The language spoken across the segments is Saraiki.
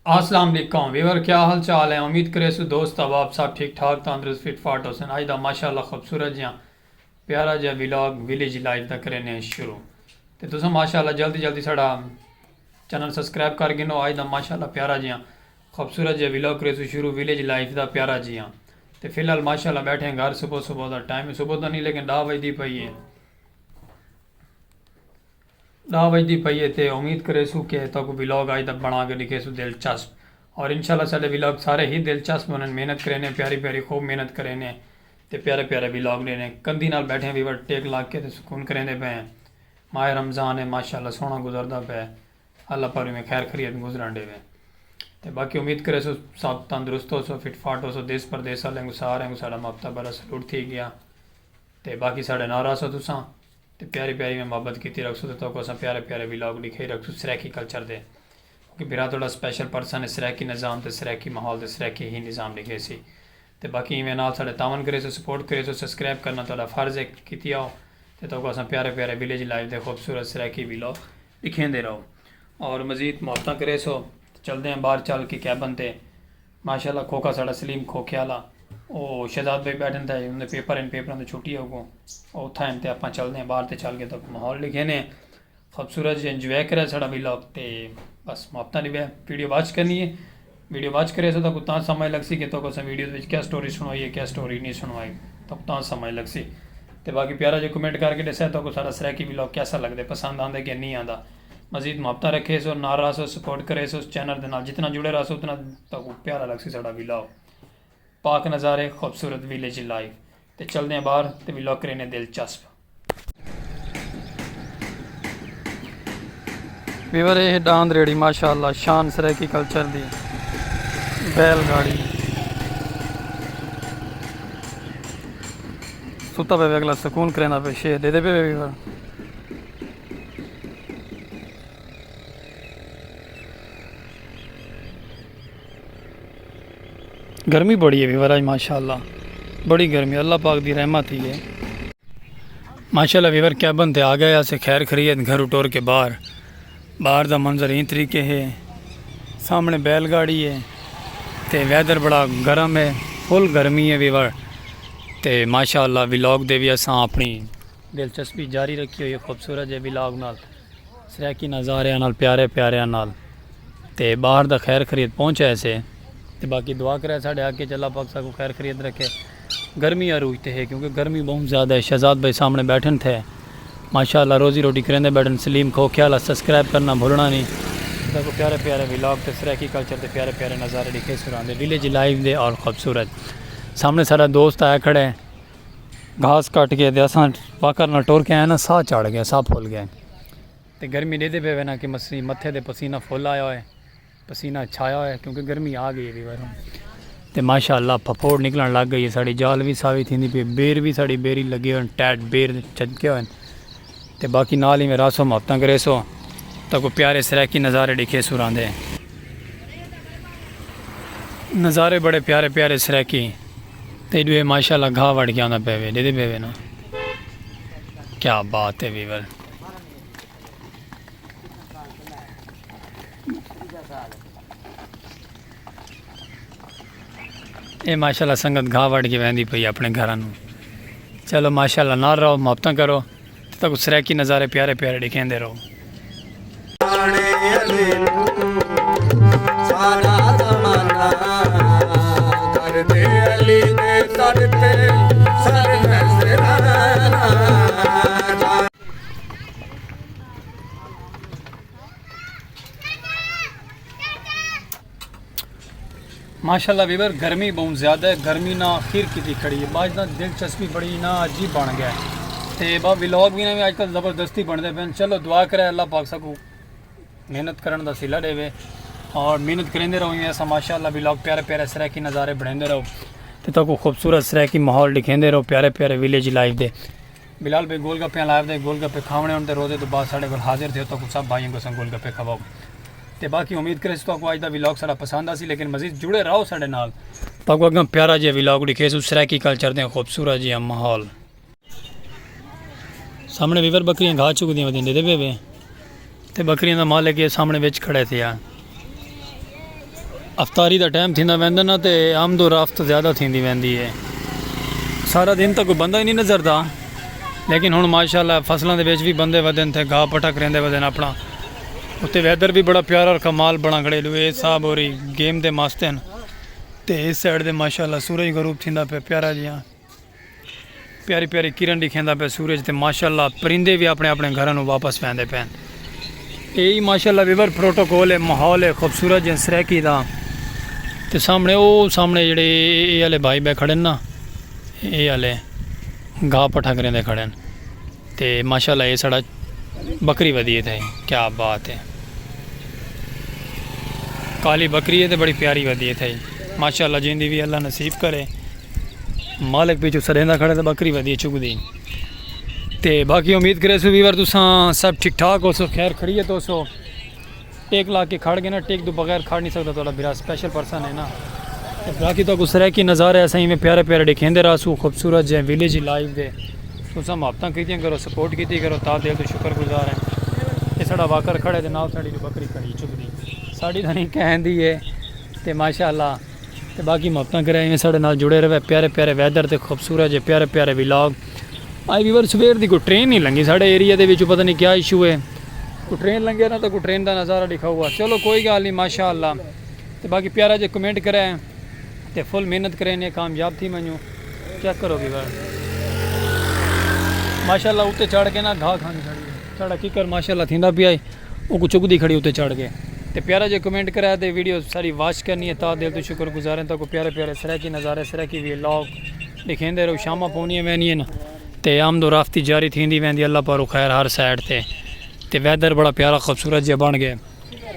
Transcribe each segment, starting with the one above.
اسلام علیکم ویور کیا حال چال ہیں امید کریسو دوست احباب سب ٹھیک ٹھاک تندرست فٹ فاٹ ہوسن اج دا ماشاءاللہ خوبصورت جیاں پیارا جیاں ویلاگ ویلیج لائف دا کرینے ہیں شروع تے تساں ماشاءاللہ جلدی جلدی ساڑا چینل سبسکرائب کر گنو اج دا ماشاءاللہ پیارا جیاں خوبصورت جیاں ویلاگ کریسو شروع ویلیج لائف دا پیارا جیاں تے فی الحال ماشاءاللہ بیٹھے ہیں گھر صبح صبح دا ٹائم صبح دا نہیں لیکن 10 بجے دی پئی ہے ݙاہ وڄدی پئی اے تے امید کریسوں کہ تہاکوں ولاگ اڄ دا بݨا کے ݙکھیسوں دلچسپ اور انشاء اللہ ساݙے ولاگ سارے ہی دلچسپ بݨن محنت کرینے پیاری پیاری خوب محنت کرینے تے پیارے پیارے ولاگ ݙینے کندھی نال ٻیٹھے ویور ٹیک لا کے تے سکون کریندے پئے ہیں ماہ رمضان اے ماشاء اللہ سوہݨا گزردا پئے اللہ پارویں میں خیر خریت گزرݨ ݙیوے تے باقی امید کریسوں سب تندرست ہوسو فٹ فاٹ ہوسو دیس پردیس آلیاں کوں ساریاں کوں ساݙا محبتہ بھرا سلوٹ تھی ڳیا تے باقی ساݙے نال رہسو تساں۔ تے پیاری پیاری میں محبت کیتی رکھسوں تے توکوں اساں پیارے پیارے ویلاگ ڈکھائی رکھسوں سرائیکی کلچر دے کیونکہ بھرا تہاڈا سپیشل پرسن ہے سرائیکی نظام تے سرائیکی ماحول تے سرائیکی ہی نظام ڈکھیسی تے باقی ایویں نال ساڈے تعاون کریسو سپورٹ کریسو سسکرائب کرنا تہاڈا فرض ہے کیتی آؤ تے توکوں اساں پیارے پیارے ولیج لائف دے خوبصورت سرائیکی ویلاگ ڈکھیندے رہو اور مزید محبتاں کریسو تے چلدے ہیں باہر چل کے کیبن تے۔ ماشاءاللہ کھوکھا ساڑا سلیم کھوکھے آلا او شہزاد بھائی بیٹھن تھا ان دے پیپر ہن پیپراں دی چھٹی ہے اگوں او اتھاں ہن تے اپاں چلدے ہیں باہر تے چل کے تاکوں ماحول ڈیکھینے ہیں خوبصورت جی انجوائے کرے ساڑا ولاگ تے بس محبتاں دی ویڈیو واچ کرنی ہے ویڈیو واچ کرے سو تاکوں تاں سمجھ لگ سی کہ تاکوں اساں ویڈیو وچ کیا سٹوری سنوائی ہے کیا سٹوری نہیں سنوائی تاکوں تاں سمجھ لگ سی تے باقی پیارا جی کمنٹ کر کے ڈسے تاکوں ساڑا سرائیکی ولاگ کیسا لگ دے پسند آندے کہ نہیں آندا۔ مزید محبتاں رکھیس اور نال رہسو سپورٹ کریس اس چینل دے نال جتنا جڑے رہسو اتنا تہاکوں پیارا لگسی ساڈا ویلاگ پاک نظارے خوبصورت ویلیج لائف تے چلدے ہیں باہر تے ویلاگ کرینے دلچسپ ویور اے ہے ڈاند ریڑی ماشاءاللہ شان سرائیکی کلچر دی بیل گاڑی ستا پہ اگلا سکون کرینا پہ شیر دے دے پہ ویور گرمی بڑی ہے وراج ماشاء اللہ بڑی گرمی اللہ پاک دی رحمت ہی ہے ماشاء اللہ ویور کیبن تے آ گئے اسے خیر خرید گھر اٹور کے باہر باہر دا منظر ہی طریقے ہے سامنے بیل گاڑی ہے تے ویدر بڑا گرم ہے فل گرمی ہے ویور تے ماشاء اللہ ولاگ دے بھی اساں اپنی دلچسپی جاری رکھی ہوئی ہے خوبصورت جے ولاگ نال سرائیکی نظاریاں نال پیارے پیاریاں نال تے باہر دا خیر خرید پہنچ آئے سے تے باقی دعا کرے ساڑے حق کے چلا پاک ساکو خیر خرید رکھے گرمی عروج تے ہے کیونکہ گرمی بہت زیادہ ہے شہزاد بھائی سامنے بیٹھن تھے ماشاءاللہ روزی روٹی کریندے بیٹھن سلیم کھو خیالہ سبسکرائب کرنا بھولنا نہیں ساکو پیارے پیارے ولاگ تے سرائیکی کلچر تے پیارے پیارے نظارے لکھے سراندے ویلیج لائیو دے اور خوبصورت سامنے سارا دوست آیا کھڑے گھاس کٹ گئے تے اساں واکر نال ٹر کے آئے نا ساہ چڑھ گئے ساہ پھول گئے تے گرمی دے دے پے وینا کہ مسی متھے دے پسینہ پھول آیا ہوئے پسینہ چھایا ہوئے کیونکہ گرمی آ گئی ہے بیوار تے ماشاءاللہ پھپوڑ نکلن لگ گئی ہے ساڑی جال بھی ساوی تھی پی بیر بھی ساڑی بیری لگے ہوئے ٹیٹ بیر چھجکے ہوئے تے باقی نال ایویں رہسوں محبتاں کریسوں تاں کوئی پیارے سرائیکی نظارے ڈیکھیسوں راندے نظارے بڑے پیارے پیارے سرائیکی تے ایڈو اے ماشاء اللہ گھا وڑ کے آندا پے وے ڈیدے پے وے نا کیا بات ہے ویور اے ماشاءاللہ سنگت گھا وڈ کے ویندی پئی اپنے گھراں نو چلو ماشاءاللہ نال رہو محبتاں کرو تے تاکو سرائیکی نظارے پیارے پیارے ڈیکھیندے رہو ماشاءاللہ ویور گرمی بہت زیادہ ہے گرمی نہ آخر کی تھی کھڑی ہے باج نہ دلچسپی بڑی نہ عجیب بن گیا ہے تے با ویلوگ بھی نہ بھی آج کل زبردستی بن دے پہن چلو دعا کرے اللہ پاک سکو محنت کرن دا سیلہ دے وے اور محنت کریں دے رہو ہی ایسا ماشاءاللہ ویلوگ پیارے پیارے سرہ کی نظارے بڑھیں دے رہو تے تو کو خوبصورت سرہ کی محول دکھیں دے رہو پیارے پیارے ویلیج لائف دے بلال بھئی گول گپیاں لائے ودے گول گپے کھاونے ہن تے روزے توں بعد ساڈے کول حاضر تھیو تہاکوں سب بھائیاں کوں اساں گول گپے کھواؤ تے باقی امید کریسوں تہاکوں اج دا ولاگ ساڈا پسند آسی لیکن مزید جڑے راہو ساڈے نال۔ تہاکوں اگاں پیارا جیہا ولاگ ڈکھیسوں سرائیکی کلچر دیاں خوبصورت جیہاں ماحول۔ سامنے ویور بکریاں گھا چگدیاں ودیاں ڈیدے پئے وے۔ تے ٻکریاں دا مالک ایہ سامݨے وچ کھڑے تھیا۔ افطاری دا ٹائم تھیندا ویندا نہ تے آمد و رفت زیادہ تھیندی ویندی ہے۔ سارا دن تاں کوئی بندہ ہی نی نظر دا لیکن ہݨ ماشاء اللہ فصلاں دے وچ وی بندے ودن تھے گھا پٹھا کریندے ودن اپݨا۔ اتے ویدر وی بڑا پیارا اور کمال بݨا کھڑے لوئے صاحب ہوری گیم دے مست ہن تے ایس سائیڈ دے ماشاء اللہ سورج غروب تھیندا پیا پیارا جیہاں۔ پیاری پیاری کرن ڈکھیندا پہ سورج تے ماشاءاللہ پرندے بھی اپنے اپنے گھراں نو واپس پیندے پین اے ہی ماشاءاللہ ویور پروٹوکول ہے ماحول ہے خوبصورت جن سرکی دا تے سامنے او سامنے جڑے اے والے بھائی بے کھڑے نا اے والے گھا پٹھا کریں دے کھڑے ہیں تے ماشاءاللہ اے ساڑا بکری ودی اے تھائی کیا بات اے کالی بکری اے تے بڑی پیاری ودی اے تھائی ماشاءاللہ جیندی وی اللہ نصیب کرے مالک پیچھو سڑیندا کھڑے تے بکری ودی چک دی تے باقی امید کرے سو ویور تساں سب ٹھیک ٹھاک ہو سو خیر خریت ہو سو ٹک لا کے کھڑ گئے نا ٹک دو بغیر کھڑ نہیں سکدا تہاڈا بھرا سپیشل پرسن ہے نا تے باقی تو کو سرائیکی نظارے اساں ایویں پیارے پیارے ڈکھیندے رہسو خوبصورت جے ویلیج ہی لائیو دے تساں محبتاں کیتیاں کرو سپورٹ کیتی کرو تا دل تو شکر گزار ہیں اے ساڈا واکر کھڑے تے نال ساڈی جو بکری کھڑی چگدی ساڈی تاں نہیں کہندی ہے تے ماشاءاللہ تے باقی محبتاں کرے ایویں ساڈے نال جڑے رہوے پیارے پیارے ویدر تے خوبصورت جے پیارے پیارے ولاگ آئی ویور سویر دی کوئی ٹرین نہیں لنگی ساڈے ایریا دے وچوں پتہ نہیں کیا ایشو ہے کوئی ٹرین لنگے نا تے کوئی ٹرین دا نظارہ ڈکھا ہوا چلو کوئی گال نہیں ماشاءاللہ تے باقی پیارا جے کمنٹ کرے تے فل محنت کرے نے کامیاب تھی منجو چیک کرو ویور ماشاءاللہ اوتے چڑھ کے نا گھا کھانی ساڈی ساڈا کیکر ماشاءاللہ تھیندا پیا ہے اوکوں چکدی کھڑی اتے چڑھ گئے تے پیارا جیہا کمنٹ کرا تے ویڈیو ساری واچ کرنی ہے تاں دل توں شکر گزار ہیں تاکوں پیارے پیارے سرائیکی نظارے سرائیکی وی لاگ ڈکھیندے رہو شاماں پونیاں ویندیاں نہ تے آمد و رفت جاری تھیندی ویندی اللہ پاروں خیر ہر سائیڈ تے تے ویدر بڑا پیارا خوبصورت جیہا بن گئے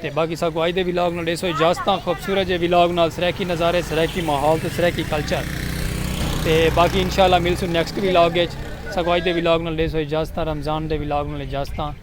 تے باقی ساکوں آج دے وی لاگ نال ڈیسو اجازتاں خوبصورت جیہے وی لاگ نال سرائیکی نظارے سرائیکی ماحول تے سرائیکی کلچر تے باقی انشاءاللہ ملسوں نیکسٹ وی لاگ اچ ساکوں آج دے وی لاگ نال ڈیسو اجازتاں رمضان دے وی لاگ نال اجازتاں۔